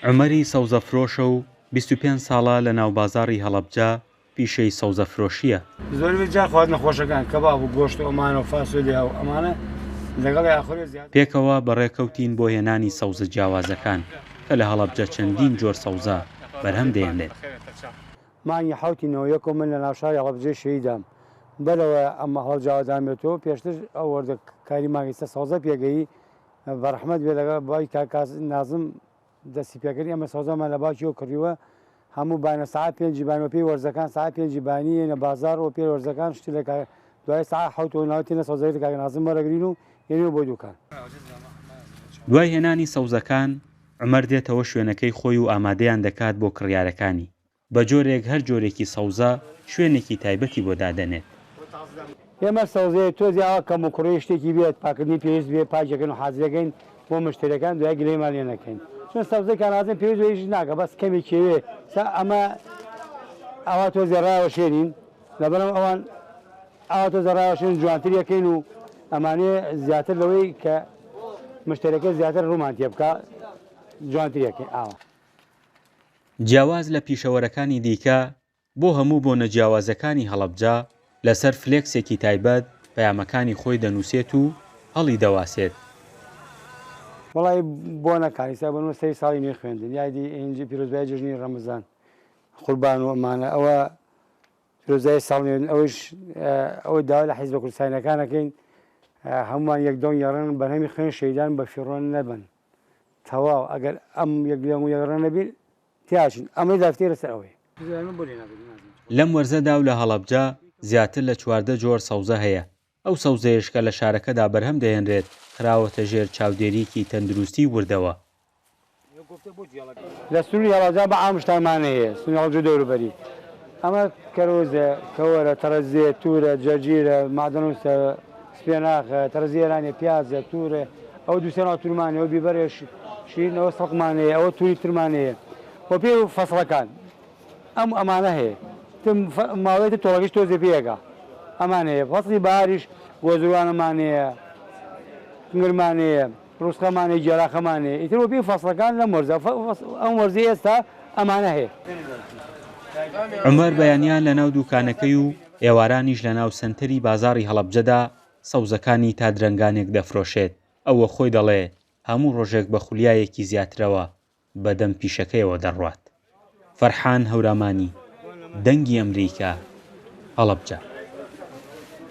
عومەری سەوزەفرۆشە و بیست و پێنج ساڵە لە ناوبازاڕی هەڵەبجە پیشەی سەوزەفرۆشییە. زۆربەی جار خواردنە خۆشەکان، کەباب و گۆشت و ئەمانە و فاسۆلیا و ئەمانە لەگەڵی ئاخورێ زیاتر. پێکەوە بەڕێکەوتین بۆ هێنانی سەوزە جیاوازەکان، کە لە هەڵەبجە چەندین جۆر سەوزە بەرهەم دەیەنێت. مانگی حەوتی نۆ یەک و من لە ناوشاری هەڵەبجەی شەهیدام بەرەوە ئەم هەڵەبجاوە دامێتۆ پێشتر ئەو وەردە کاری مانگی سە سەوزە پێگەیی بە ڕەحمەت بێ لەگە بای کا کاس نازم دەسی پێکردی ئەمە سەوزەمان لە باکی و کڕیوە هەموو بانە سعا پێنجی بان وەپی وەرزەکان سعا پێنجی بانی یەنە بازار و پێ وەرزەکان شتی لە کا دوای سعا حەوت و ناوتی نە سەوزەی لە کاک نازم وەرەگرین و یەنێ بۆ دوکان. دوای هێنانی سەوزەکان عومەر دێتەوە شوێنەکەی خۆی و ئامادەیان دەکات بۆ کڕیارەکانی بە جۆرێک هەر جۆرێکی سەوزە شوێنێکی تایبەتی بۆ دادەنێت. ئێمە سەوزەیە تۆزی ئاوا کەموکوڕی شتێکی بێت پاکردنی پێویست بێت پاک دەکەین و حازر دەکەین بۆ مشتەرێکان دوای گلەیمان لێ نەکەین چون سەوزەی کانازن پێویست بە هیچ شت ناکە بەس کەمێک کێوێ سا ئەمە ئاوا تۆزێ ڕاوەشێنین لەبەرم ئەوان ئاوا تۆزێ ڕاوەشێن جوانتر یەکەین و ئەمانێ زیاتر لەوەی کە مشتەرەکە زیاتر ڕوومان تێ بکا جوانتر یەکەین ئاوا. جیاواز لە پیشەوەرەکانی دیکە، بۆ هەموو بۆنە جیاوازەکانی هەڵەبجە، لەسەر فلێکسێکی تایبەت پەیامەکانی خۆی دەنووسێت و هەڵیدەواسێت. وەڵای بۆنەکان ئیستا بۆ نمونە سەری ساڵی نوێی خوێندن یادی ئینجی پیرۆزبایی جەژنی ڕەمەزان قوربان و ئەمانە ئەوە پیرۆزبایی ساڵ نوێن ئەوەیش ئەوەی داوا لە حیزبە کوردستانیەکان ئەکەین هەمووان یەک دڵن یەڕێن بەرهەمی خوێن شەهیدان بەفیڕۆ نەبن. تەواو ئەگەر ئەم یەک لێڵ و یەک ڕێ نەبین تێئەچن ئەمەی داکتێ لەسەر ئەوەیە. لەم وەرزەدا و لە هەڵەبجە زیاتر لە چواردە جۆر سەوزە هەیە، ئەو سەوزەیەش کە لە شارەکەدا بەرهەم دەهێنرێت خراوەتە ژێر چاودێریی تەندروستیی وردەوە. لە سنووری هەڵەبجە بە عام شتانمان هەیە، سنووری هەڵەبجە و دەوروبەری، ئەمە کەرۆزە، کەوەرە، تەڕە زێ، توورە، جەرجیرە، مەعدەنووسە، سپێناخ، تەڕزی ئێرانێ، پیاز، تور، ئەوە دوو سێ ناو تورمانێ، ئەوە بیبەرێ، شیرین، ئەوە سڵقمانێ، ئەوە توری ترمانێ، وە پێ فەسڵەکان ئەم ئەمانە هەیە، تر ماوەیە تر تۆڵەکەش تۆزێ پێ ئەگا، ئەمان هەیە، فەسڵی بەهاریش گۆزروانەمانێیە، کنگرمانێیە، ڕوسخەمانێ، گێلاخەمانێ، ئیتر وە پێی فەسڵەکان لەم وەرزە، ئەم وەرزەی ئێستا ئەمانە هەیە. عومەر بەیانیان لەناو دووکانەکەی و ئێوارانیش لە ناو سەنتەری بازاڕی هەڵەبجەدا سەوزەکانی تا درەنگانێک دەفرۆشێت، ئەو وە خۆی دەڵێ هەموو ڕۆژێک بە خولیایەکی زیاترەوە بە دەم پیشەکەیەوە دەڕوات. فەرحان هەورامانی، دەنگی ئەمریکا، هەڵەبجە.